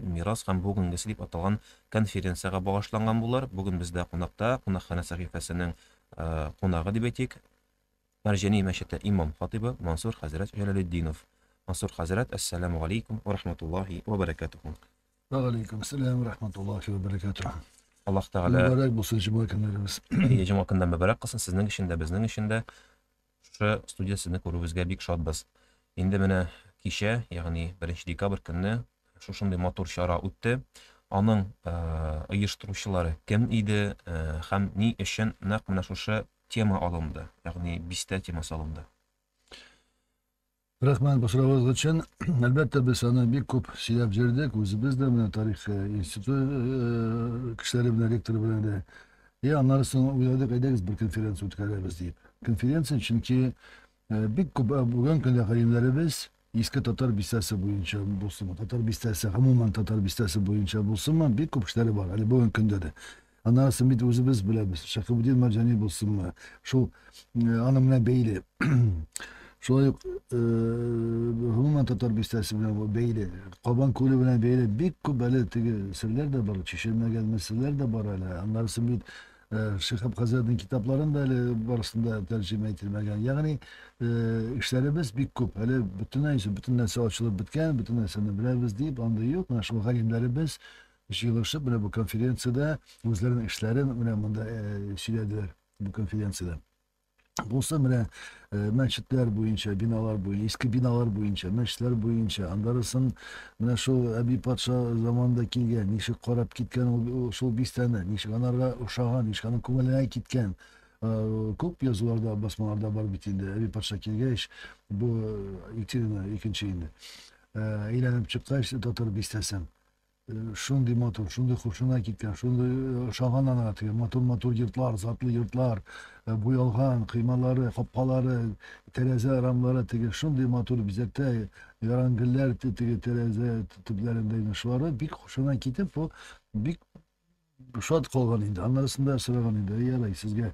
Мирас һәм бүгенгесе дип аталган конференциягә багышланган булыр. Бүген бездә кунакта, кунакханә сәхифәсенең кунагы дип әйтик, Мәрҗани мәчете имам-хатыйбы Мансур хәзрәт Җәләлетдинов. Мансур хәзрәт, әссәламү галәйкүм вә рахматуллаһи вә бәрәкәтүһү. Вә галәйкүм сәлам вә рахматуллаһи вә бәрәкәтүһү. Аллаһ Тәгалә. Мөбарәк булсын җома көннәрегез. Әйе, җома көннәр мөбарәк кылсын сезнең өчен дә, безнең өчен дә. Шушы студия сезне күрүебезгә бик шатбыз. Инде менә кичә, ягъни 1 декабрь көнне шушындый матур чара үтте. Аның оештыручылары кем иде һәм ни өчен нәкъ менә шушы тема алынды, ягъни бистә темасы алынды? Рәхмәт бу сорагыгыз өчен. Әлбәттә, без аны бик күп сөйләп җөрдек, үзебез дә, менә тарих институты кешеләре белән, ректор белән дә. И аннары соң уйладык, әйдәгез бер конференция үткәрәбез дип. Конференция, чөнки бик күп бүген көндә галимнәребез иске татар бистәсе буенча булсынмы, татар бистәсе, гомумән татар бистәсе буенча булсынмы, бик күп кешеләре бар әле бүген көндә дә. Анысын бит үзебез беләбез. Шәхебетдин Марҗани булсынмы, шул аның белән бәйле. Шулай ук гомумән татар бистәсе белән бәйле, Кабан күле белән бәйле бик күп әле теге серләр дә бар, чишелмәгән мәсьәләләр дә бар әле. Аннарысын бит Шиһаб э, хәзрәтнең китапларын да әле барысында тәрҗемә ителмәгән. Ягъни э, эшләребез бик күп. Әле бөтенләй бөтен нәрсә ачылып беткән, бөтен нәрсәне беләбез дип андый юк. Менә шул галимнәребез Җыелышып, менә бу конференциядә үзләренең эшләрен менә монда сөйләделәр бу конференциядә. Булса менә мәчетләр буенча, биналар буенча, иске биналар буенча, мәчетләр буенча, андарысын менә шул Әби патша заманында килгән, ничек карап киткән ул шул бистәне, ничек анарга ошаган, ничек аның күңеленә киткән. Күп язуларда, басмаларда бар бит инде. Әби патша килгәч, бу Екатерина икенче инде. Әйләнеп чыккач, татар бистәсен Шундый матур, шундый хушына киткән, шундый ошаган аңа теге матур-матур йортлар, затлы йортлар, буялган кыймалары, капкалары, тәрәзә рамлары теге шундый матур бизәктә яран гөлләр теге тәрәзә төпләрендә инде шулары бик хушына китеп, ул бик шат калган инде. Аннарысын да сораган инде, ярай, сезгә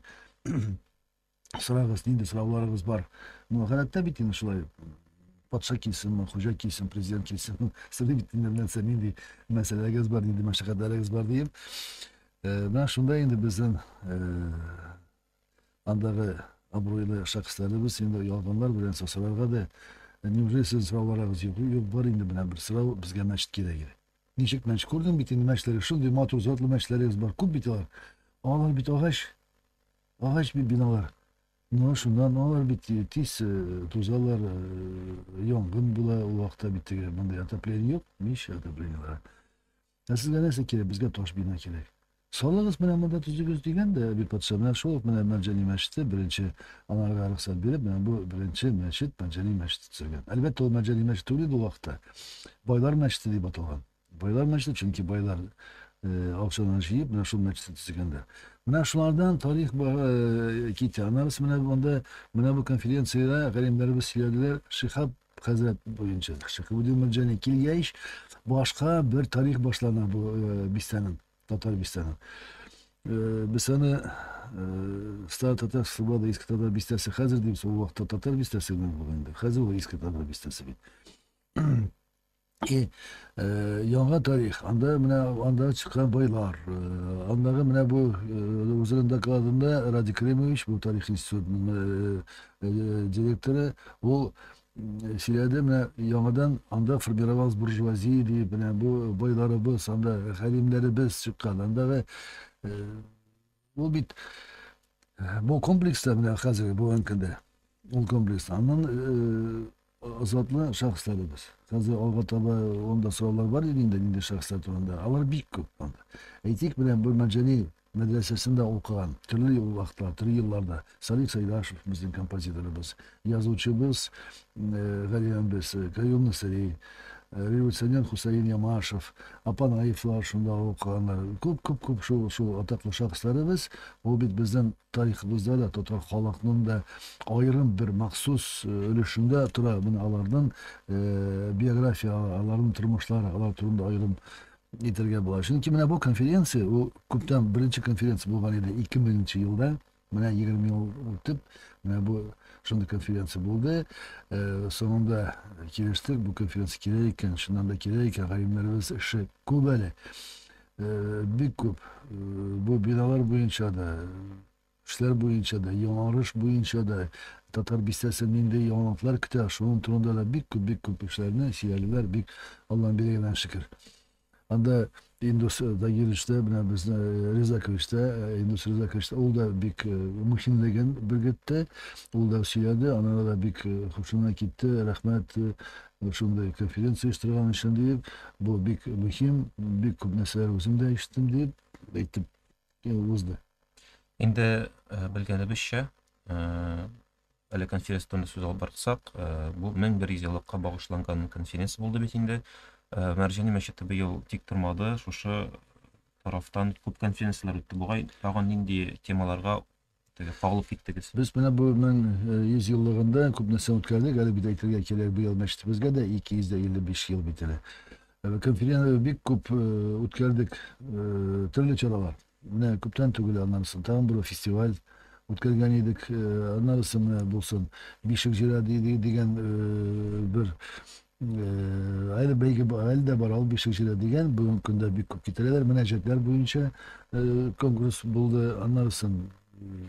Сорагыз, нинди сорауларыгыз бар? Ну, гадәттә бит инде шулай патша килсенме, хуҗа килсен, президент килсен, сезнең бит инде нәрсә, нинди мәсьәләгез бар, нинди мәшәкатьләрегез бар диеп. Э, менә шунда инде безнең э, андагы абруйлы шәхесләребез инде ялганлар белән сасырарга да э, неужели сезнең сорауларыгыз юк? Юк, бар инде менә бер сорау, безгә мәчет кирәк иде. Ничек мәчет? Күрдең бит инде мәчетләре, шундый матур затлы мәчетләрегез бар, күп бит алар. Алар бит агач, Агач бит биналар. Ну, шуннан алар бит тиз тузалар, янгын була ул вакытта бит теге мондый отопление юк, мич отоплениелары. Ә сезгә нәрсә кирәк? Безгә таш бина кирәк. Салыгыз менә монда төзегез дигән дә Әби патша менә шул ук менә Мәнҗани мәчете беренче анарга рөхсәт биреп, менә бу беренче мәчет Мәнҗани мәчете төзелгән. Әлбәттә, ул Мәнҗани мәчете түгел иде ул вакытта. Байлар мәчете дип аталган. Байлар мәчете, чөнки байлар акчаларын җыеп, менә шул мәчетне төзегәннәр. Менә шулардан тарих китә. Аннары менә монда, менә бу конференциядә галимнәребез сөйләделәр, Шихаб хәзрәт буенча Шихабудин Мәрҗани килгәч, башка бер тарих башлана бу э, бистәнең, татар бистәнең. Э, без аны э, Стар татар Слобода иске татар бистәсе хәзер дибез, ул вакытта татар бистәсе генә булган инде. Хәзер ул иске татар бистәсе бит. И, э, яңа тарих. Анда менә анда чыккан бойлар. Э, андагы менә бу э, үзенең докладында Радик Римович, бу тарих институтының э, э, директоры, ул э, сөйләде, менә яңадан анда формировалась буржуазия дип, менә бу бойларыбыз, анда хәлимнәребез чыккан. Андагы э, Ул бит бу комплекста менә хәзерге бүгенге көндә ул комплекс аннан затлы шәхесләре без. Хәзер алга таба анда сораулар бар иде инде нинди шәхесләр турында. Алар бик күп анда. Әйтик, менә бу Мәҗәли мәдрәсәсендә укыган, төрле вакытлар, төрле елларда Салих Сәйдашев, безнең композиторыбыз, Язучыбыз Галиан без, Каюм Насыйри, революционер Хөсәен Ямашев, Апанаевлар шунда укыганнар. Күп, күп, күп шул, шул атаклы шәхесләребез. Ул бит безнең тарихыбызда да, татар халыкның да аерым бер махсус өлешендә тора. Менә аларның биография, аларның тормышлары, алар турында аерым әйтергә була. Чөнки менә бу конференция, ул күптән беренче конференция булган иде 2000 елда. Менә егерме ел үтеп, менә бу шундый конференция булды. Э, соңында килештек, бу конференция кирәк икән, чыннан да кирәк икән, галимнәребез эше күп әле. Э, бик күп. Э, бу биналар буенча да, эшләр буенча да, яңарыш буенча да, татар бистәсе нинди яңалыклар көтә, шуның турында да бик күп, бик күп эшләрне сөйләделәр, бик Алланың бирегеннән шөкер. Анда Индус Тагирович та, менә безне Ризакович та, Индус Ризакович та, ул да бик мөһимлеген белгертте, ул да сөйләде, аннары да бик хушына китте, рәхмәт шундый конференция оештырган өчен дип, бу бик мөһим, бик күп нәрсәләр үзем дә ишеттем дип әйтеп узды. Инде белгәнебезчә, Әле конференция турында сүз алып барсак, э, бу 1100 еллыкка багышланган конференция булды бит инде. Э, Мәрҗани мәчете быел тик тормады, шушы тарафтан күп конференцияләр үтте. Бугай тагын нинди темаларга теге кагылып киттегез? Без менә бу 1100 э, еллыгында күп нәрсә үткәрдек. Әле бит әйтергә кирәк, быел мәчетебезгә дә 255 ел бит әле. Конференция бик күп үткәрдек, төрле чаралар. Менә күптән түгел, аннарысын тагын бер фестиваль үткәргән идек. Аннарысы менә булсын, Бишек җыры дигән бер әле бәйге әле дә бар, ул Бишек җыры дигән. Бүгенге көндә бик күп китерәләр. Мөнәҗәтләр буенча конкурс булды. Аннарысын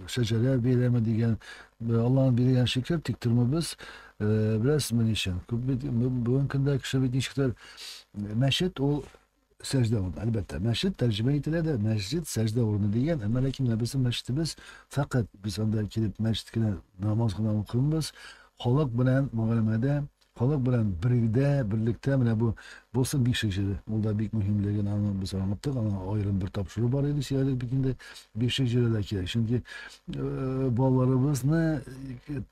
Шәҗәрә бәйрәме дигән. Алланың биргән шикел, тик тормыбыз. Беләсезме ни өчен? Күп бит бүгенге көндә кеше бит ничектер мәчет ул сәждә урыны, әлбәттә. Мәчет тәрҗемә ителә дә, мәсҗид сәждә урыны дигән, әмма ләкин менә безнең мәчетебез фәкать без анда килеп мәчет кенә намаз гына укыйбыз, халык белән мөгамәләдә, халык белән бергдә, берлектә менә бу булсын бик шәҗә. Ул да бик мөһимлеген аны без аңлаттык, аңа аерым бер тапшыру бар иде, сөйләдек бит инде. Бик шәҗә дә кирәк, чөнки Э, балаларыбызны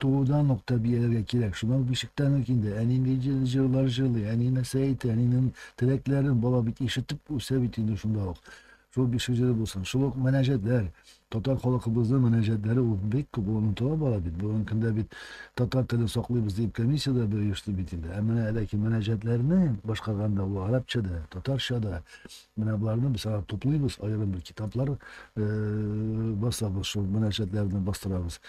туудан ук тәрбияләргә кирәк шуннан бишектән үк инде әни ни җырлар җырлый әни нәрсә әйтә әнинең теләкләрен бала бит ишетеп үсә бит инде шунда ук шул бишек җыры булсын шул ук мөнәҗәтләр татар халкыбызның мөнәҗәтләре ул бик күп ул онытыла бара бит бүгенге көндә бит татар телен саклыйбыз дип комиссия дә бер оешты бит инде ә менә ләкин мөнәҗәтләрне башкарганда ул арабча да татарча да Менә боларны без алар туплыйбыз, аерым бер китаплар басабыз, шул мөнәҗәтләрне бастырабыз.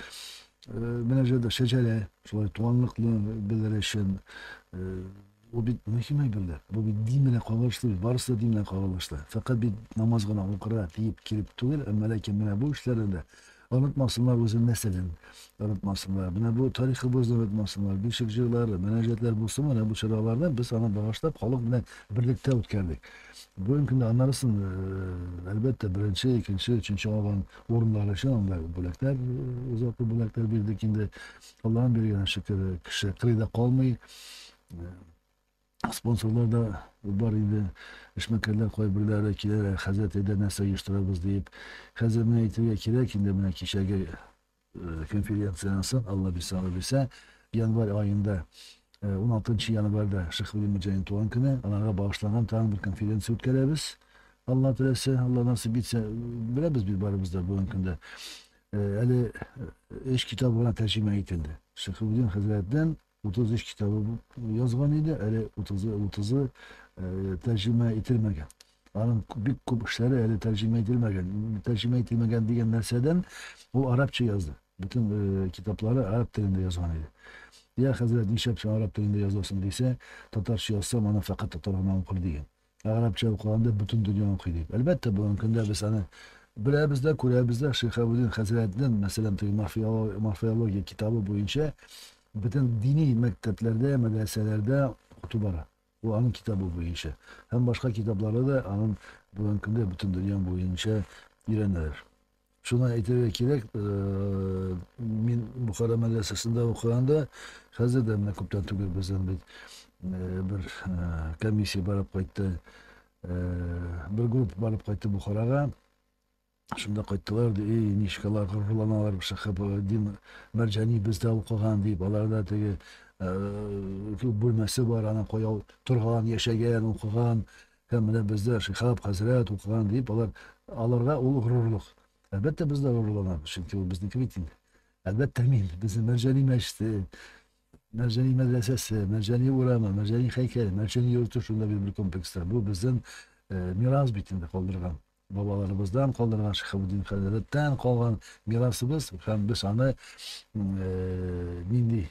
Мөнәҗәт шәҗәрә, шулай туганлыкны белер өчен Ул бит мөһим әйберләр. Бу бит дин белән кагылышлы, барысы да дин белән кагылышлы. Фәкать бит намаз гына укырга тиеп килеп түгел, әмма ләкин менә бу эшләрдә дә Онытмасыннар үзен нәселен, онытмасыннар. Менә бу тарихыбызны онытмасыннар. Бишек җырлары, мөнәҗәтләр булсын, менә бу чараларны без аны багышлап халык белән берлектә үткәрдек. Бүгенге көндә анарысын, әлбәттә, беренче, икенче, өченче алган урыннар өчен анда бүләкләр, озату бүләкләр бирдек инде. Аллаһның биргән шөкере, кеше кырыйда калмый. Спонсорлар да бар инде, эшмәкәрләр кайберләре киләләр, ә хәзрәт әйдә нәрсә оештырабыз диеп. Хәзер менә әйтергә кирәк инде, менә кичәге конференцияннән соң, Алла бирсә, Алла бирсә, январь аенда, 16 нчы январьда Шех Вәли Мөҗәнин туган көне, анарга багышланган тагын бер конференция үткәрәбез. Алла теләсә, Алла насыйп итсә, беләбез бит барыбыз да бүгенге көндә. Әле өч китабы гына тәрҗемә ителде. Шех Вәлидин хәзрәттән 33 китабы язган иде, әле 30-ы 30-ы тәрҗемә ителмәгән. Аның бик күп эшләре әле тәрҗемә ителмәгән. Тәрҗемә ителмәгән дигән нәрсәдән ул арабча язды. Бөтен э, китаплары араб телендә язган иде. Я хәзрәт, нишләп син араб телендә язасың дисә, татарча язсам, аны фәкать татар гына укыр дигән. Гарәпчә укыганда бөтен дөнья укый дип. Әлбәттә, бүгенге көндә без аны беләбез дә, күрәбез дә. Шиһабуддин хәзрәтнең, мәсәлән, теге морфеология китабы буенча бөтен дини мәктәпләрдә, мәдрәсәләрдә укыту бара. Ул аның китабы буенча. Һәм башка китаплары да аның бүгенге көндә бөтен дөнья буенча өйрәнәләр. Шуны әйтергә кирәк, э, мин Бухара мәдрәсәсендә укыганда, хәзер дә менә күптән түгел бездән бит э, бер э, комиссия барып кайтты, бер группа барып кайтты Бухарага. Шунда кайттылар, ди, эй, ничек алар горурланалар, шәхәп дин мәрҗани бездә укыган дип, аларда теге күп бүлмәсе бар, ана каяу торган, яшәгән, укыган, Һәм менә бездә Шиһаб хәзрәт укыган дип, алар, аларга ул горурлык. Әлбәттә, без дә горурланабыз, чөнки ул безнеке бит инде. Әлбәттә, мин, безнең Мәрҗани мәчете, Мәрҗани мәдрәсәсе, Мәрҗани урамы, Мәрҗани һәйкәле, Мәрҗани йорты шунда бит бер комплекста. Бу безнең э, мирас бит инде калдырган. Бабаларыбыздан калдырган, Шиһабетдин хәзрәттән калган мирасыбыз һәм без аны нинди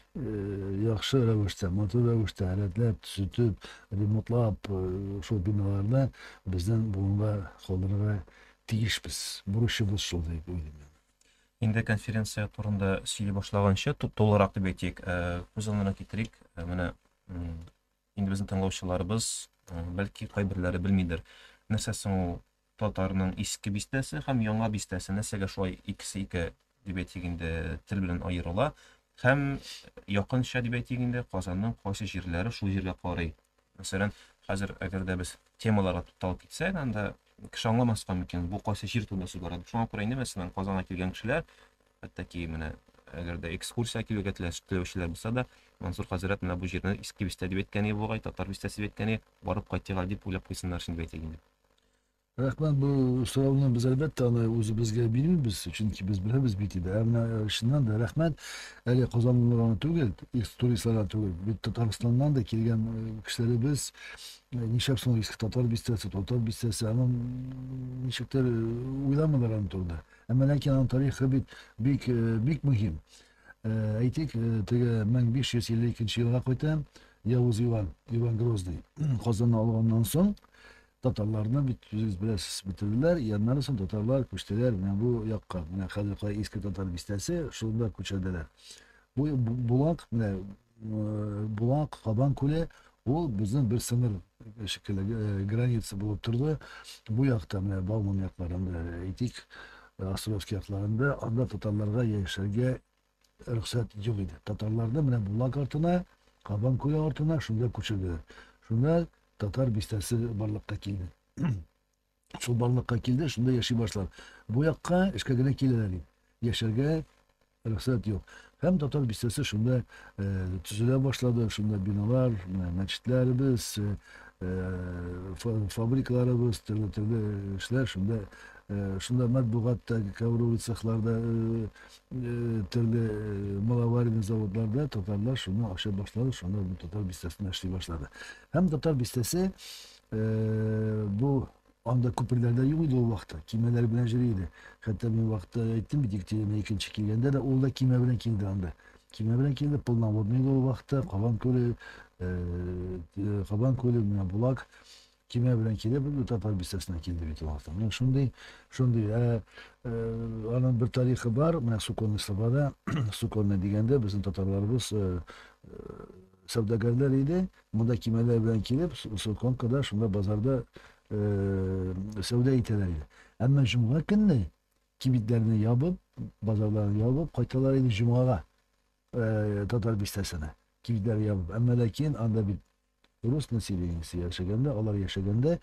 яхшы рәвештә, матур рәвештә рәтләп, төзетеп, ремонтлап, шул биналарны безнең буынга калдырырга тиешбез. Бурычыбыз шул дип уйлыйм мин. Инде конференция турында сөйли башлаганчы, тулырак дип әйтик, күз алдына китерик, менә Инде безнең тыңлаучыларыбыз, бәлки, кайберләре белмидер. Нәрсә соң ул татарның иске бистәсе һәм яңа бистәсе? Нәрсәгә шулай икесе ике дип әйтик инде, тел белән аерыла? Һәм якынча дип әйтик инде, Казанның кайсы җирләре шул җиргә карый? Мәсәлән, хәзер әгәр дә без темаларга тукталып китсәк, анда кеше аңламаска мөмкин, бу кайсы җир турында сүз бара. Шуңа күрә инде, мәсәлән, Казанга килгән кешеләр Хәтта менә әгәр дә экскурсия килергә теләүчеләр булса да, Мансур хәзрәт менә бу җирне иске бистә дип әйткәне бугай, татар бистәсе дип әйткәне, барып кайтыга дип уйлап куйсыннар шул дип әйтик инде. Рәхмәт, бу сорауны без әлбәттә аны үзебезгә бирмибез, чөнки без беләбез бит инде. Ә менә э, чыннан да рәхмәт, әле казанлыларга гына түгел, туристларга түгел, бит Татарстаннан да килгән э, кешеләребез э, нишләп соң иске татар бистәсе, татар бистәсе, анын ничектер уйламыйлар аны турында. Әмма ләкин аның тарихы бит бик э, бик мөһим. Э, әйтик, э, теге 1552 елга кайта Явыз Иван, Иван Грозный Казанны алганнан соң татарларны бит үзегез беләсез бетерделәр, яннары соң татарлар күчтеләр менә бу якка. Менә хәзер кая иске татар бистәсе, шунда күчерделәр. Бу булак менә Булак, Кабан күле ул безнең бер сыныр шикелле граница булып торды. Бу якта менә Бауман якларында әйтик, Островский якларында анда татарларга яшәргә рөхсәт юк иде. Татарларны менә Булак артына, Кабан күле артына шунда күчерделәр. Шунда татар бистәсе барлыкка килде. Шул барлыкка килде, шунда яши башлар. Бу якка эшкә генә киләләр ди. Яшәргә рөхсәт юк. Һәм татар бистәсе шунда э, төзелә башлады, шунда биналар, э, мәчетләребез, э, э фабрикаларыбыз, төрле төрле эшләр шунда э, шунда матбугат та, ковровый цехларда, э, э, төрле э, маловаренный заводларда татарлар шуны ашап башлады, шунда татар бистәсенә эшли башлады. Һәм татар бистәсе Бу анда күперләр дә юк иде ул вакытта, кимәләр белән йөри иде. Хәтта мин вакытта әйттем бит, Екатерина икенче килгәндә дә ул да кимә белән килде анда. Кимә белән килде, полноводный иде ул вакытта, Кабан күле, Кабан күле менә Булак кимә белән килеп, татар бистәсенә килде бит ул вакытта. Менә шундый, шундый. Аның бер тарихы бар, менә Суконный Сабада, Суконный дигәндә безнең татарларыбыз сәүдәгәрләр иде, Монда кимәләр белән килеп, Солконкада, шунда базарда сәүдә итәләр иде. Әмма җомга көнне кибетләрне ябып, базарларны ябып кайталар иде җомгага. Татар бистәсенә кибетләр ябып. Әмма ләкин анда бит рус населениесе яшәгәндә, алар яшәгәндә,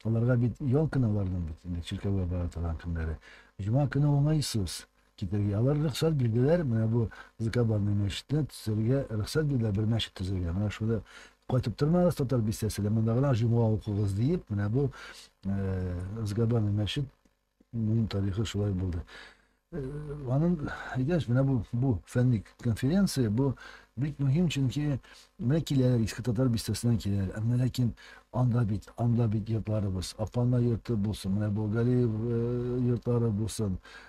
аларга бит ял кенә аларның бит инде чиркәүгә бара торган көннәре. Җомга көне уңайсыз. Китәргә. Алар рөхсәт бирделәр, менә бу Закабанный мәчетне төзергә рөхсәт бирделәр, бер мәчет төзергә. Менә шуны кайтып тормагыз Татар бистәсенә, монда гына җомга укыгыз диеп, менә бу Закабанный мәчет Минем тарихы шулай булды. Анын әйдәш менә бу бу фәнни конференция бу бик мөһим, чөнки менә киләләр иске татар бистәсеннән киләләр. Әмма ләкин анда бит, анда бит йортларыбыз, Апана йорты булсын, менә Болгариев йортлары булсын,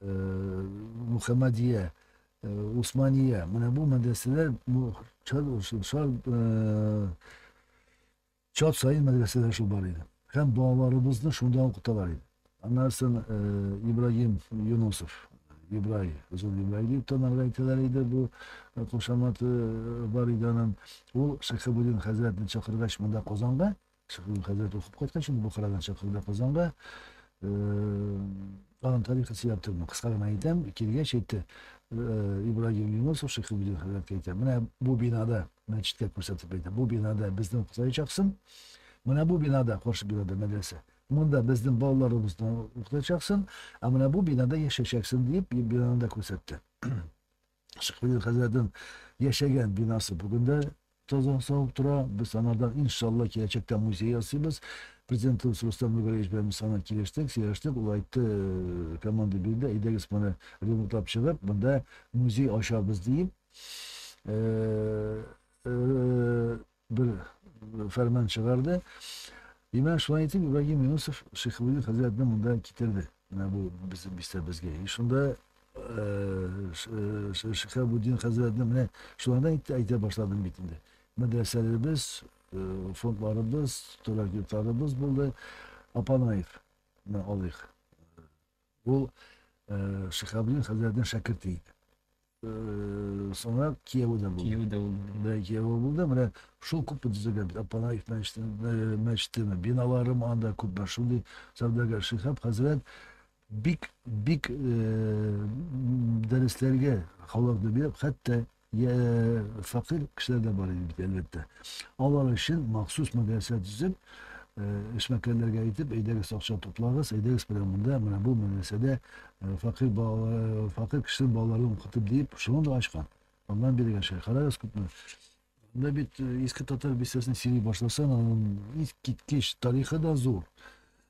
Мөхәммәдия, Усмания, менә бу мәдрәсәләр чат сайын мәдрәсәләр шул бар иде. Һәм балаларыбызны шунда укыталар иде. Аннан соң Ибраһим Юнусов, Ибрай, Зур Ибрай дип танарга әйтәләр иде, бу кушаматы бар иде аның. Ул Шәхәбуллин хәзрәтне чакыргач монда Казанга, Шәһрин хәзрәт укып кайткан шул Бохарадан чакырды Казанга. Аның тарихы сөйләп тормыйм, кыска гына әйтәм. Килгәч әйтте, Ибрагим Юнусов Шәйхелбдин хәзрәткә әйтә, менә бу бинада, мәчеткә күрсәтеп әйтә, бу бинада безне укытачаксың, менә бу бинада, каршы бинада мәдрәсә, монда безнең балаларыбызны укытачаксың, ә менә бу бинада яшәячәксең, дип, бинаны да күрсәтте. Шыкминин хәзрәтнең яшәгән бинасы бүген дә таза сау тора. Без аңардан, иншалла, киләчәктә музей ясыйбыз. Президентыбыз Рустам Нургалиевич белән без аңа килештек, сөйләштек. Ул әйтте, э, команда бирде, әйдәгез моны ремонтлап чыгып, монда музей ачабыз диеп. Э, э, бер фәрман чыгарды. Имән шулай итеп Ибрагим Юнусов Шихабудин хәзрәтне монда китерде. Менә бу безнең бистәбезгә. И шунда Шихабудин хәзрәтне менә шулардан итте әйтә башладым бит инде. Мәдрәсәләребез, фондларыбыз, торак йортларыбыз булды. Апанаев, менә алыйк. Ул Шихабдин хәзрәтнең шәкерте иде. Соңрак кияве дә булды. Кияве дә булды. Да, кияве булды. Менә шул күп төзегән бит. Апанаев мәчетеме, биналары анда күп бар. Шундый сәүдәгәр Шихаб хәзрәт бик бик дәресләргә халыкны биреп, хәтта Йә, фәкыйрь кешеләр дә бар иде бит, әлбәттә. Алар өчен махсус мәдрәсә төзеп, эшмәкәрләргә әйтеп, әйдәгез акча туплагыз, әйдәгез белән монда, менә бу мәдрәсәдә фәкыйрь балалар, фәкыйрь кешенең балаларын укытып диеп, шуны да ачкан. Аннан бире генә шулай. Карагыз күпме. Анда бит иске татар бистәсен сөйли башласаң, аның искиткеч тарихы да зур.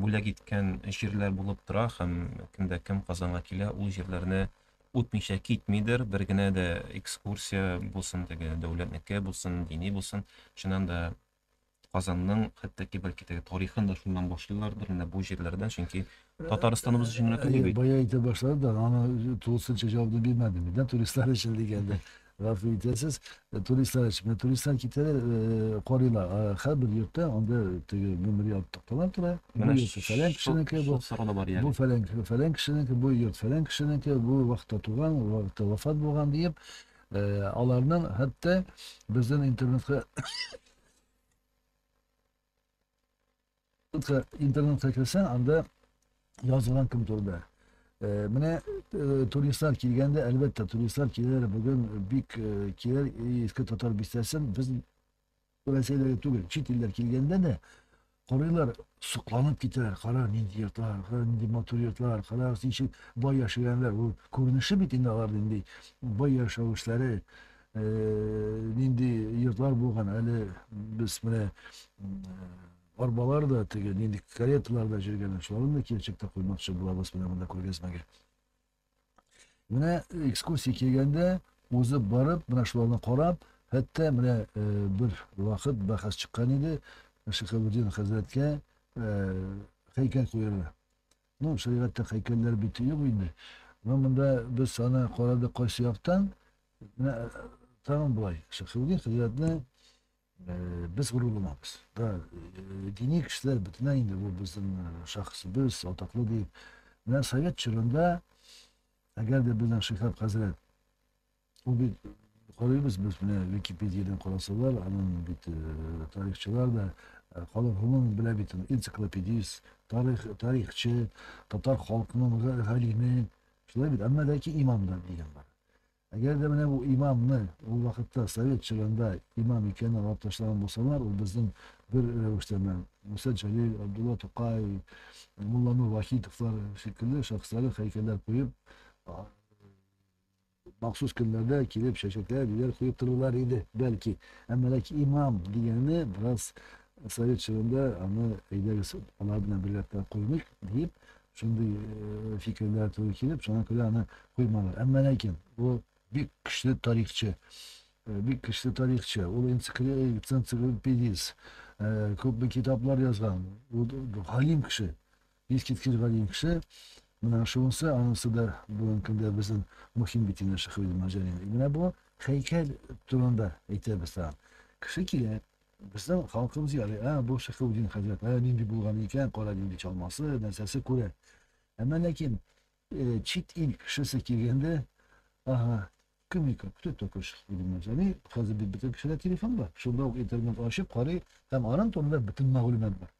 бүләк иткән җирләр булып тора һәм кемдә кем Казанга килә, ул җирләрне үтмичә китмидер, бер генә дә экскурсия булсын, теге дәүләтнеке булсын, дини булсын, чыннан да Казанның хәтта ки бәлки теге тарихын да шуннан башлыйлардыр, менә бу җирләрдән, чөнки Татарстаныбыз өчен генә түгел бит. Бая әйтә башлады да, аны тулысынча җавабын бирмәдем. Нидән туристлар өчен дигәндә, Гафу итәсез, э, туристлар өчен. Менә туристлар китәләр, э, карыйлар. А, Һәрбер йортта анда теге гомери артыклар тора. Бу Менә йорты фәлән кешенеке, бу шул сорау да бар бу ягъни. фәлән фәлән кешенеке, бу йорт фәлән кешенеке, бу вакытта туган, бу вакытта вафат булган диеп, э, аларның хәтта безнең интернетка интернетка керсәң, анда язылган кем турында. Э, менә э, туристлар килгәндә, әлбәттә, туристлар киләләр бүген бик э, киләр иске татар бистәсен без Рәсәйләргә түгел, чит илләр килгәндә дә корыйлар сокланып китәләр. Кара, нинди йортлар, кара, нинди матур йортлар, кара, ничек бай яшәгәннәр. Ул күренеше бит инде алар нинди бай яшәвешләре. э, нинди йортлар булган, әле без менә арбалар да теге нинди кареталар да җөргән, шуларны да киләчәктә куймакчы булабыз менә монда күргәзмәгә. Менә экскурсия килгәндә, узып барып, менә шуларны карап, хәтта менә э, бер вакыт бәхәс чыккан иде, Шихабуддин хәзрәткә э, һәйкәл куярга. Ну, шәригатьтә һәйкәлләр бит юк инде. Менә монда без аны карадык кайсы яктан. Менә тагын болай. Шәхүгә хәзрәтне без горурланабыз. Да, дини кешеләр бөтенләй инде бу безнең шәхесебез, атаклы дип. Менә совет чорында, әгәр дә безнең Шиһаб хәзрәт Бу бит карыйбыз без менә Википедиядән карасалар, анын бит э, тарихчылар да э, халык гомумән белә бит аны. Энциклопедист, тарих, тарихчы, татар халкының га- галиме. Шулай бит, әмма ләкин имам да дигән бар. Әгәр дә менә бу имамны ул вакытта совет чорында имам икәнен алып ташлаган булсалар, ул безнең бер рәвештә менә Муса Җәлил, Абдулла Тукай, Мулланур Вахитовлар шикелле шәхесләре һәйкәлләр куеп, а, Махсус көннәрдә килеп чәчәкләр, гөлләр куеп торырлар иде, бәлки. Әмма ләкин имам дигәне бераз совет чорында аны әйдәгез алар белән берлектә куймыйк, диеп, шундый э, фикерләр туры килеп, шуңа күрә аны куймалар. Әмма ләкин ул бик көчле тарихчы. Э, бик көчле тарихчы. Ул энциклопедист. Э, күпме китаплар язган. Ул галим кеше. Искиткеч галим кеше, менә шунысы, анысы да бүгенге көндә безнең мөһим бит инде Шиһ Гыйлем Марҗани. Менә бу һәйкәл турында әйтәбез тагын. Кеше килә, безнең халкыбыз ярый, ә бу Шихаудин хәзрәт, ә нинди булган икән, кара нинди чалмасы, нәрсәсе күрә. Әмма ләкин э, чит ил кешесе килгәндә, ага, кем икән, кто такой Шиһ Гыйлем Марҗани? Хәзер бит бөтен кешедә телефон бар. Шунда ук интернет ачып карый һәм аның турында бөтен мәгълүмат бар.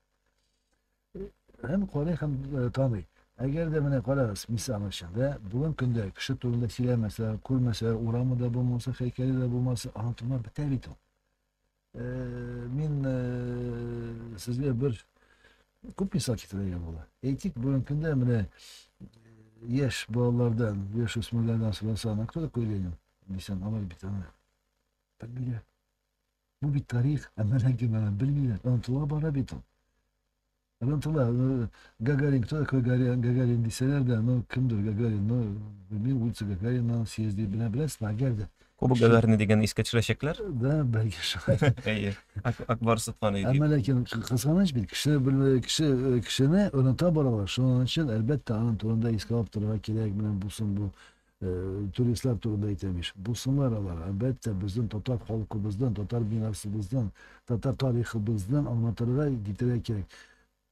һәм карый һәм таный. Әгәр дә менә карагыз, мисал өчен, дә, бүген көндә кеше турында сөйләмәсә, күрмәсә, урамы да булмаса, һәйкәле дә булмаса, онытылма бетә бит ул. Мин сезгә бер күп мисал китерергә була. Әйтик, бүген көндә менә яшь балалардан, яшь үсмерләрдән сорасаң, кто такой Ленин? Дисәң, алар бит аны. Фамилия. Бу бит тарих, ә менә кем аны белмиләр. Онытыла бара бит ул. Онытыла. Ну, Гагарин, кто такой Гагарин, Гагарин дисәләр дә, ну, кемдер Гагарин, ну, белмим, улица Гагарина, съезди, белә, беләсезме, әгәр дә. Кубок Гагарина дигән искә төшерәчәкләр? Да, бәлки шулай. Әйе, Акбар Сотман өйди. Әмма ләкин кызганыч бит, кеше белмәгән кеше э, кешене оныта баралар. Шуның өчен, әлбәттә, аның турында искә алып торырга кирәк, менә булсын бу Э, туристлар турында әйтәм ич. Булсыннар алар, әлбәттә, безнең татар халкыбыздан, татар мирасыбыздан, татар тарихыбыздан аңлатырга, китерә кирәк.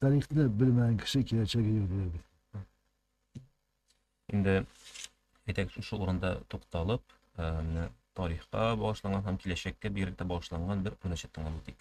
Тарихны белмәгән кеше киләчәге юк диләр бит. Инде әйтәк шушы урында тукталып, э, менә тарихка багышланган һәм киләчәккә бигрәк тә багышланган бер күренешне тыңлап үтик.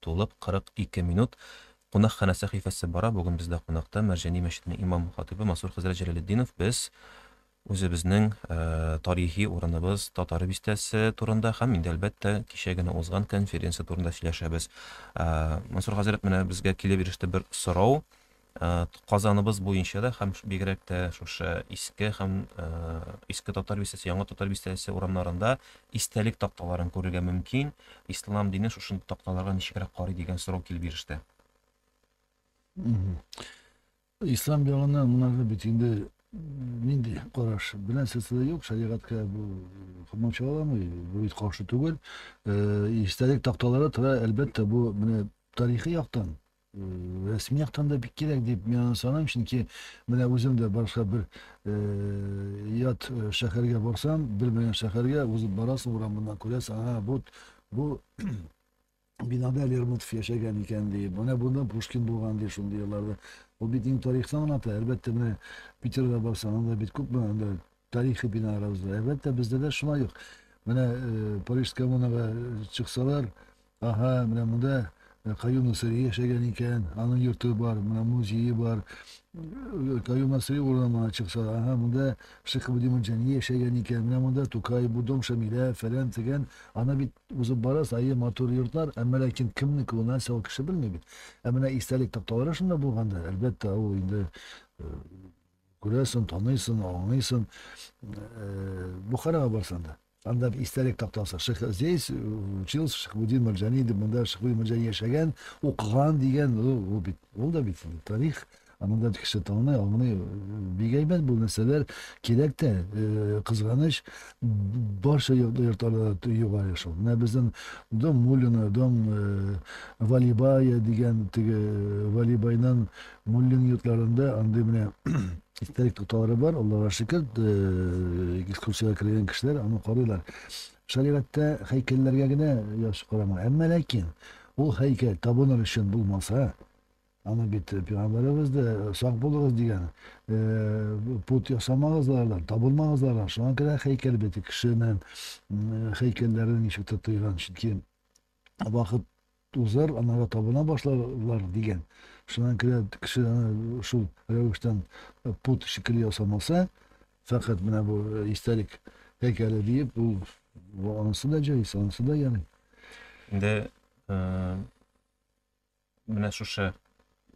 Тулып 42 минут, Кунакханә сәхифәсе бара, бүген бездә кунакта Мәрҗани мәчетенең имам-хатыйбы Мансур хәзрәт Җәләлетдинов. Без үзебезнең тарихи урыныбыз, Татар бистәсе турында һәм инде, әлбәттә, кичә генә узган конференция турында сөйләшәбез. Мансур хәзрәт, менә безгә килеп иреште бер сорау. Казаныбыз буенча да һәм бигрәк тә шушы иске һәм иске татар бистәсе, яңа татар бистәсе урамнарында истәлек такталарын күрергә мөмкин. Ислам дине шушы такталарга ничегрәк карый дигән сорау килеп иреште. Ислам ягыннан монарга бит инде нинди караш белән сездә юк, шәригатькә бу комача аламы, бу бит каршы түгел. Истәлек такталары тора, әлбәттә, бу менә тарихи яктан рәсми яктан да бик кирәк дип мин аны саныйм, чөнки менә үзем дә башка бер ят шәһәргә барсам, белмәгән шәһәргә узып барасың урамыннан күрәсең, ага, бу бу бинада Лермонтов яшәгән икән ди, менә бунда Пушкин булган ди шундый елларда. Ул бит инде тарихны аңлата. Әлбәттә, менә Питерга барсаң, анда бит күпме анда тарихи биналар узды. Әлбәттә, бездә дә шулай ук. Менә Париж коммунага чыксалар, Аһа, менә монда Каюм Насыйри яшәгән икән, аның йорты бар, менә музее бар. Каюм Насыйри урыны моңа чыкса, аһа, монда Шейх Абдин Мөрҗәни яшәгән икән, менә монда Тукай, бу дом Шамилә, фәлән, тегән. Аны бит узып барасыз, әйе, матур йортлар, әмма ләкин кемнеке ул, нәрсә ул, кеше белми бит. Ә менә истәлек такталары шунда булганда, әлбәттә, ул инде күрәсен, таныйсын, аңлыйсын. Бухарага барсаң да. Анда бер истәлек тактасы. Ших здесь э, учился Шихбудин Марджани дип, монда Шихбудин Марджани яшәгән, укыган дигән, ул бит, ул да бит тарих. Ә монда кеше таный, аңлый. Бик әйбәт бу нәрсәләр кирәк тә, э, кызганыч, барча йортларда югары шул. Менә безнең Дом Мулина, Дом э, Валибая дигән теге Валибайнан Муллин йортларында андый менә истәлек тукталары бар, Аллага шөкер, экскурсиягә кергән кешеләр аны карыйлар. Шәригатьтә һәйкәлләргә генә яхшы карама. Әмма ләкин ул һәйкәл табыныр өчен булмаса, аны бит пәйгамбәребез дә сак булыгыз дигән, пут ясамагыз алардан, табынмагыз алардан. Шуңа күрә һәйкәл бит кешенең һәйкәлләрен ничектер тыйган, чөнки Вакыт узар, анарга табына башларлар, дигән. Шуннан көлә кеше аны шул рәвештән пут шикелле ясамаса, фәкать менә бу истәлек һәйкәле диеп, ул анысы да җайс, анысы да ярый. Инде Менә шушы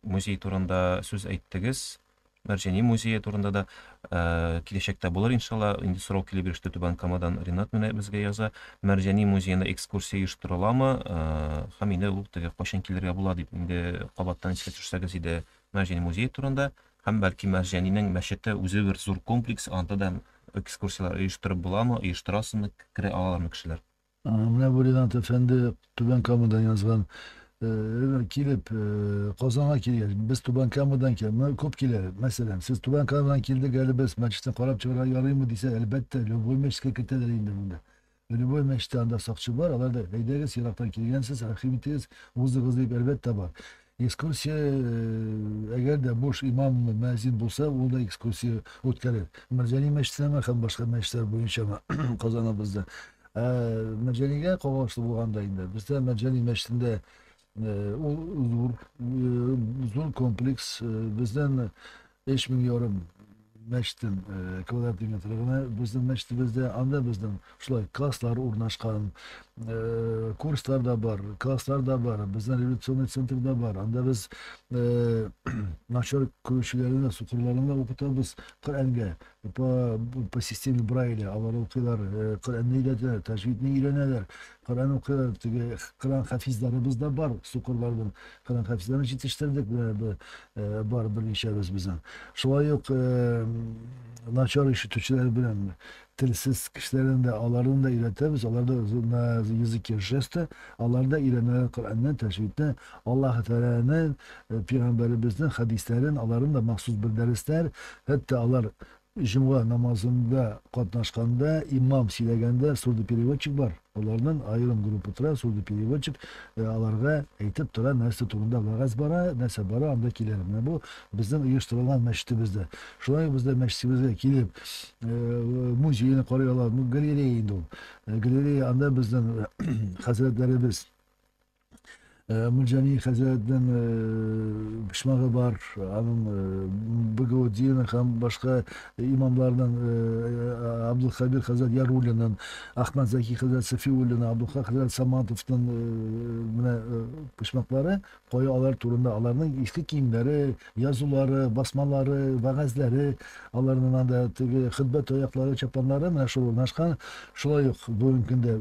музей турында сүз әйттегез. Мәрҗәни музее турында да э, киләчәктә булыр иншалла. Инде сорау килеп иреште Түбән Камадан Ринат менә безгә яза. Мәрҗәни музеенда экскурсия оештырыламы? Э, һәм инде ул теге кайчан килергә була дип инде кабаттан искә төшсәгез иде Мәрҗәни музее турында һәм бәлки Мәрҗәнинең мәчете үзе бер зур комплекс, анда да экскурсияләр оештырып буламы, оештырасызмы, керә алалармы кешеләр? Менә бу Ринат әфәнде Түбән Камадан язган килеп Казанга килгәч, без Түбән Камадан килә, моны күп килә. Мәсәлән, сез Түбән Камадан килдек, әле без мәчетне карап чыгарга ярыймы дисә, әлбәттә, любой мәчеткә кертәләр инде монда. Любой мәчеттә анда сакчы бар, алар да әйдәгез, ерактан килгәнсез, рәхим итегез, узыгыз дип, әлбәттә, бар. Экскурсия, э, әгәр дә буш имам мәзин булса, ул да экскурсия үткәрер. Мәрҗани мәчетенәме һәм башка мәчетләр буенчамы Казаныбызда. Ә Мәрҗанигә кагылышлы булганда инде, бездә Мәрҗани мәчетендә э, ул зур, э, зур комплекс, э, бездән Биш мең ярым мәчтем э, квадрат метр генә безнең мәчтебездә анда безнең шулай класслар урнашкан э, курслар да бар класслар да бар безнең революционный центр да бар анда без э, начар күрүчеләрне сукырларны укытабыз коръәнгә по, по системе брайля алар укыйлар коръәнне өйрәтәләр тәҗвидне өйрәнәләр Коръән укыйбыз, теге Коръән хафизларыбыз да бар, сукырлар бер Коръән хафизларын җитештердек, менә бер э, бар берничәбез безнең. Шулай ук э, начар ишетүчеләр белән телсез кешеләрен дә, аларны да өйрәтәбез, алар да з- на языке жеста, алар да өйрәнәләр Коръәнне, тәҗвидне, Аллаһ Тәгаләне, э, пигамбәребезнең хәдисләрен, аларын да махсус бер дәресләр, хәтта алар Җомга намазында катнашканда, имам сөйләгәндә сурдопереводчик бар, аларның аерым группы тора, сурдопереводчик аларга әйтеп тора, нәрсә турында вәгазь бара, нәрсә бара, анда киләләр. Менә бу безнең оештырылган мәчетебездә. Шулай ук бездә мәчетебезгә килеп, музейны карый алар, бу галерея инде ул. Галерея, анда безнең хәзрәтләребез Э, Мулҗани хәзрәтнең э, почмагы бар, аның э, Багаудинов һәм башка имамларның Абдулхабир хәзрәт Ярулинын, Ахмад Заки хәзрәт Сафиуллина, Абдулхак хәзрәт Саматовның менә почмаклары, кая алар турында, аларның иске киемнәре, язулары, басмалары, вәгазьләре, аларның анда теге хөтбә таяклары, чапаннары менә шул урнашкан. Шулай ук бүгенге көндә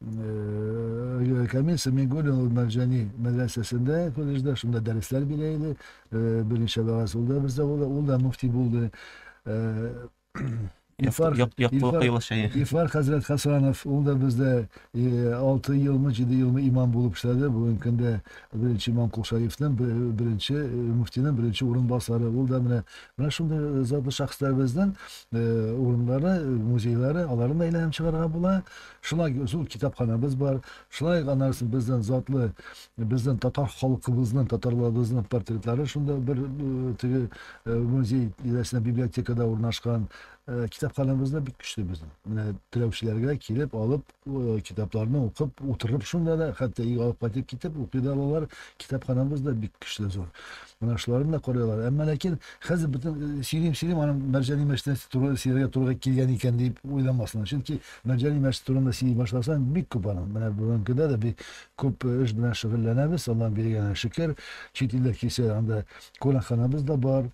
Э, Камил Сәмигуллин ул Мәрҗани мәдрәсәсендә колледжда шунда дәресләр бирә иде. Э, Берничә вәгазь ул да бездә ул да, ул да мөфти булды. Э, Илфар Як- Якбулат Илфар- Кыйлы шәйе. Илфар хәзрәт Хасанов ул да бездә 6 елмы, 7 елмы имам булып эшләде. Бүгенге көндә беренче имам Кулшаевның бер- беренче э, мөфтинең беренче урынбасары. Ул да менә менә шундый э, затлы шәхесләребезнең э, урыннары, э, музейлары, аларны да әйләнеп чыгарга була. Шулай зур китапханабыз бар, шулай ук аннары безнең затлы, безнең татар халкыбызның, татарларыбызның портретлары шунда бер э, теге э, музей тирәсендә библиотекада урнашкан. Э, китапханабыз да бик көчле безнең. Менә теләүчеләргә килеп, алып, китапларны укып, утырып шунда да, хәтта өйгә алып кайтып китеп укый да алалар. Китапханабыз да бик көчле зур. Менә шуларны да карыйлар. Әмма ләкин хәзер бөтен сөйлим-сөйлим аның Мәрҗани мәчете туры сөйләргә туры килгән икән дип уйламасын. Чөнки Мәҗәни мәчтүреңне сөйи башласаң, бик күп аның. Менә бүгенкедә дә бик күп эш белән шөгыльләнәбез, Аллаһның биргәненә шөкер. Чит илләр килсә, анда кунакханабыз да бар.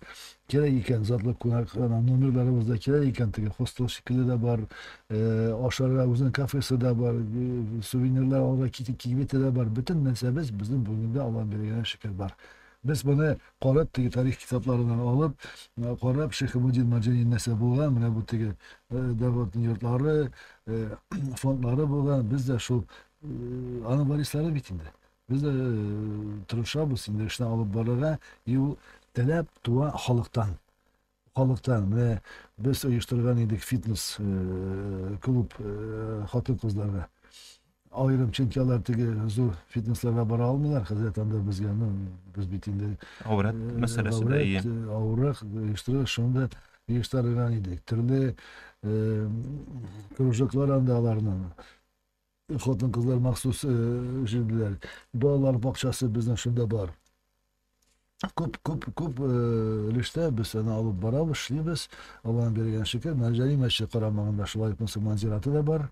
Кирәк икән, затлы кунакхана номерларыбыз да кирәк икән, теге хостел шикелле дә бар. Ашарга үзенең кафесы да бар, сувенирлар алырга кибете дә бар. Бөтен нәрсәбез безнең бүгенге көндә, Аллаһның биргәненә шөкер, бар. Без моны карап, теге тарих китапларыннан алып, карап, Шәйхемудин Марҗанин нәрсә булган, менә бу теге Дәвлатның йортлары, фондлары булган, без дә шул аның варислары бит инде. Без дә тырышабыз инде эшне алып барырга, и ул теләп туа халыктан. Халыктан, менә без оештырган идек фитнес клуб хатын-кызларга. Аерым, чөнки алар теге зур фитнесларга бара алмыйлар, хәзрәт анда безгә, ну, без бит инде Авырат мәсьәләсе дә ие. Авырак оештырып, шунда оештырган идек. Төрле кружоклар анда аларның. Хатын-кызлар махсус э, җыйдылар. Балалар бакчасы безнең шунда бар. Күп, күп, күп э, өлештә без аны алып барабыз, эшлибез. Алланың биргән шөкер, Мәҗәли мәче карамагында шулай ук мөселман зираты да бар.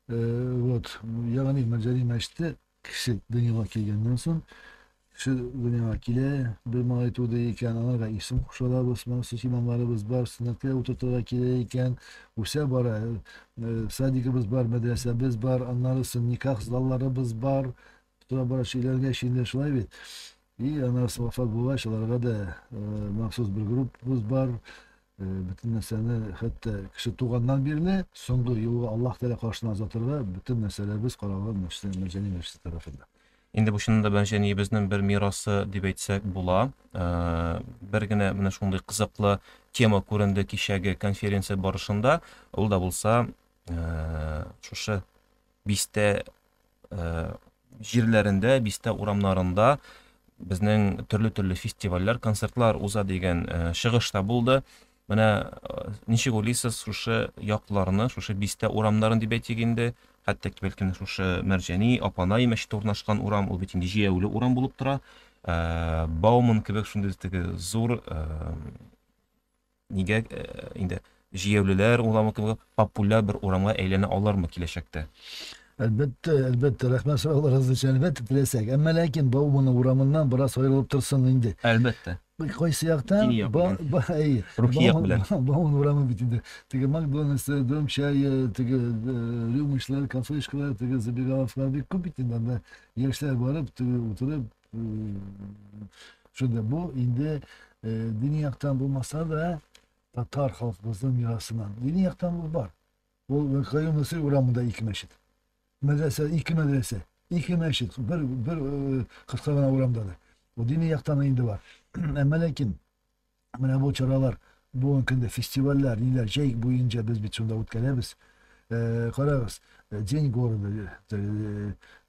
Э, вот, ягъни Мәҗәли мәчете кеше дөньяга килгәннән соң Сез дөньяга килә, бер малай туды икән, аңа да исем кушалар, Госман, сез имамларыбыз бар, сөннәткә утыртырга кирәк икән, үсә бара, э, садигыбыз бар, мәдрәсәбез бар, аннары сон никах залларыбыз бар, тора бара шиләргә шилдә шулай бит. И аннары сон вафат булгач, аларга да э, махсус бер группабыз бар, Э, бөтен нәрсәне хәтта кеше туганнан бирле соңгы юлга Аллаһ Тәгалә каршына озатырга бөтен нәрсәләребез каралган мәчетләр Мәҗәни мәчете тарафында. Инде бу чынында белән җәниебезнең бер мирасы дип әйтсәк була. Бер генә менә шундый кызыклы тема күренде кичәге конференция барышында. Ул да булса шушы бистә җирләрендә, бистә урамнарында безнең төрле-төрле фестивальләр, концертлар уза дигән чыгыш та булды. Менә ничек уйлыйсыз, шушы якларны, шушы бистә урамнарын дип әйтик инде, хәтта ки бәлки шушы Мәрҗәни, Апанай мәчете урнашкан урам, ул бит инде җәяүле урам булып тора. Бауман кебек шундый теге зур нигә инде җәяүлеләр урамы кебек популяр бер урамга әйләнә алырмы киләчәктә? Әлбәттә, әлбәттә, рәхмәт сорауларыгыз өчен. Әлбәттә, теләсәк. Әмма ләкин Баумана урамыннан бераз аерылып торсын инде. Әлбәттә. Кайсы яктан? Дини як белән. Ба- ба- әй, Рухи як Бауман- белән. Ба- Бауман урамы бит инде. Теге Макдональдсы, Дом чая, теге э, рюмочнар, кафешкалар, теге забегаловкалар бик күп бит инде. Анда яшьләр барып, теге утырып, э, шунда бу инде э, дини яктан булмаса да, татар халкыбызның мирасыннан. Дини яктан бу бар. Ул Каюм Насыйри урамында ике мәчет. Мәдрәсә, ике мәдрәсә, ике мәчет, бер, бер э, кыска гына урамда да. Бу дини яктан инде бар. Әмма ләкин менә бу чаралар, бүгенге көндә фестивальләр, ниләр, җәй буенча без бит шунда үткәрәбез. Э, карагыз, э, День города,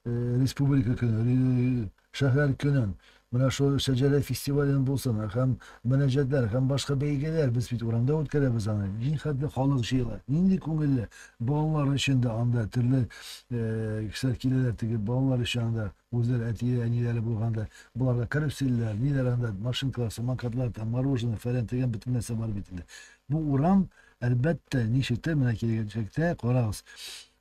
республика көне, Шәһәр көнен, менә шул Шәҗәрә фестивален булсын, һәм мөнәҗәтләр, һәм башка бәйгеләр, без бит урамда үткәрәбез аны, нихәтле халык җыела, нинди күңелле, балалар өчен дә анда төрле кешеләр киләләр, теге балалар өчен анда үзләре әтиләре, әниләре булганда, боларга каруселләр, ниләр анда, машинкалар, самокатлар, там мороженое, фәлән, төгән, бөтен нәрсә бар бит инде. Бу урам, әлбәттә, ничектер, менә килгәнчәктә, карагыз,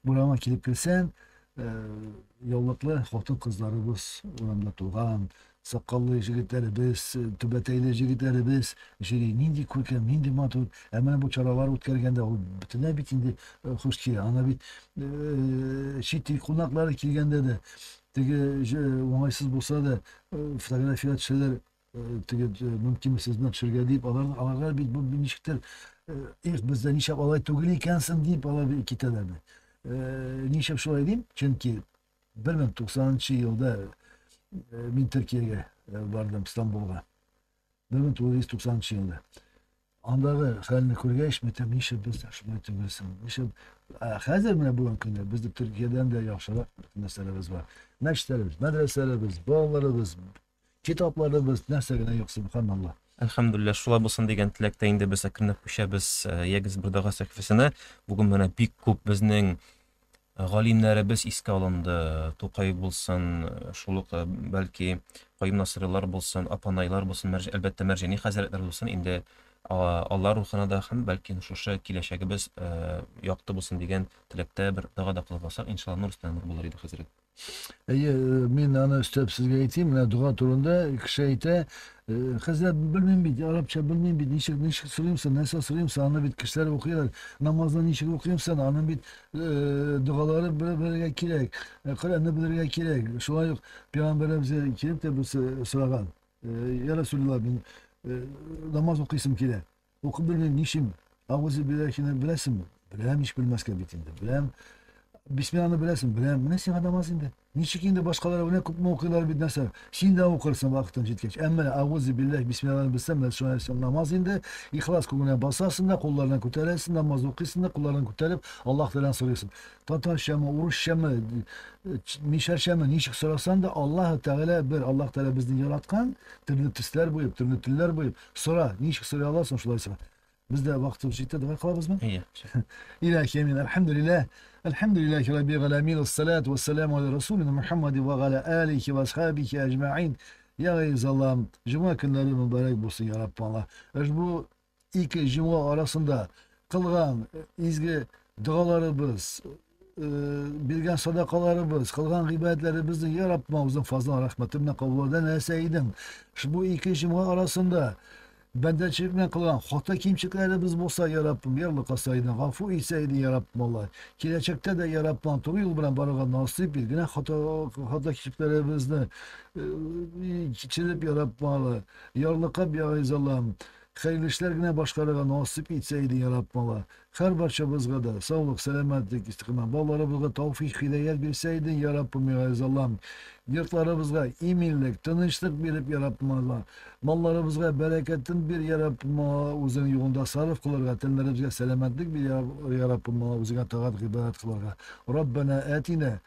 урама килеп керсәң, яулыклы хатын-кызларыбыз урамда туган, сакаллы җегетләребез, түбәтәйле җегетләребез җыри. Нинди күркәм, нинди матур. Ә менә бу чаралар үткәргәндә ул бөтенләй бит инде хуш килә. Ана бит чит ил кунаклары килгәндә дә, теге уңайсыз булса да, фотография төшәләр, теге мөмкинме сез белән төшергә дип алар аларга бит бу ничектер эх бездә нишләп алай түгел икәнсең дип алар китәләр бит нишләп шулай дим чөнки бер мең тугызынчы елда мин төркиягә бардым стамбулга бер мең тугыз йөз тугызынчы елда андагы хәлне күргәч мин әйтәм нишләп бездә шулай түгелсең нишләп хәзер менә бүгенге көндә бездә төркиядән дә яхшырак бөтен нәрсәләребез бар мәчетләребез мәдрәсәләребез балаларыбыз Китапларыбыз нәрсә генә юк, Сөбханалла. Әлхәмдүлилләһ, шулай булсын дигән теләктә инде без әкренләп күчәбез Ягез бер дога сәхифәсенә. Бүген менә бик күп безнең галимнәребез искә алынды. Тукай булсын, шул ук бәлки Каюм Насыйрилар булсын, Апанайлар булсын, мәрҗ, әлбәттә Мәрҗани хәзрәтләр булсын. Инде алар рухына да һәм бәлки шушы киләчәгебез якты булсын дигән теләктә бер дога да кылып алсак, иншалла нур өстенә нур булыр иде, хәзрәт. Әйе, э, мин аны өстәп сезгә әйтим, менә дога турында кеше әйтә, э, хәзер белмим бит, арабча белмим бит, ничек ничек сорыймсың, нәрсә сорыймсың, аны бит кешеләр укыйлар. Намазны ничек укыймсың, аны бит э, догалары белергә кирәк, э, Коръәнне белергә кирәк. Шулай ук пәйгамбәребез килеп тә без сораган. Э, я Расулла, мин э, намаз укыйсым килә. Укып белмим, нишим? Агузы биллахины беләсеңме? Беләм, ич белмәскә бит инде. Беләм. Бисмилланы беләсең, беләм. Менә сиңа намаз инде. Ничек инде башкалар менә күпме укыйлар бит нәрсә. Син дә укырсың вакытың җиткәч. Әмма агузы биллах бисмилланы белсәң, менә шуңа син намаз инде. Ихлас күңел белән басасың да, кулларыңны күтәрәсең, намаз укыйсың да, кулларыңны күтәреп, Аллаһ Тәгаләдән сорыйсың. Татарчамы, урысчамы, мишәрчәме, ничек сорасаң да, Аллаһ Тәгалә бер, Аллаһ Тәгалә безне яраткан, төрле төсләр буеп, төрле телләр буеп, Сора, ничек сорый аласың, шулай сора. Бездә вакытыбыз җитте, дога кылабызмы? Әйе. Илаһи мин, әлхәмдүлилләһ, әлхәмдүлилләһи раббил галәмин, уссалату уссаламу аля расулина Мухаммади ва галя алихи ва асхабихи аҗмаин. Я Газиз Аллам, җомга көннәре мөбарәк булсын, я Рабб Алла. Ошбу ике җомга арасында кылган изге догаларыбыз, биргән садакаларыбыз, кылган гыйбадәтләребезне я Раббым үзең фазлың рәхмәте белән кабул итә нәрсә идең. Шубу ике җомга арасында бәндәчелек белән кылган хата кимчекләребез булса, я Раббым, ярлыкаса идең, гафу итсә иде, я Раббым Алла. Киләчәктә дә я Раббым туры юл белән барырга насыйп ит, генә хата хата кимчекләребезне кичереп, я Раббым Алла, ярлыкап, я Гайз Аллам, хәерле эшләр генә башкарырга насыйп итсә иде, я Раббым Алла. Хәр барчабызга да саулык, сәламәтлек, истикамә, балаларыбызга тауфих, хидаят бирсә иде, Йа Раббым, Гайз Аллам! Йортларыбызга иминлек, тынычлык биреп, Йа Раббым, Алла! Малларыбызга бәрәкәтен бир, Йа Раббым, Алла! Үзең юлында сарыф кылырга, тәннәребезгә сәламәтлек бир, Йа Раббым, Алла! Үзеңә тагат, гыйбадәт кылырга. Раббәнә әтинә!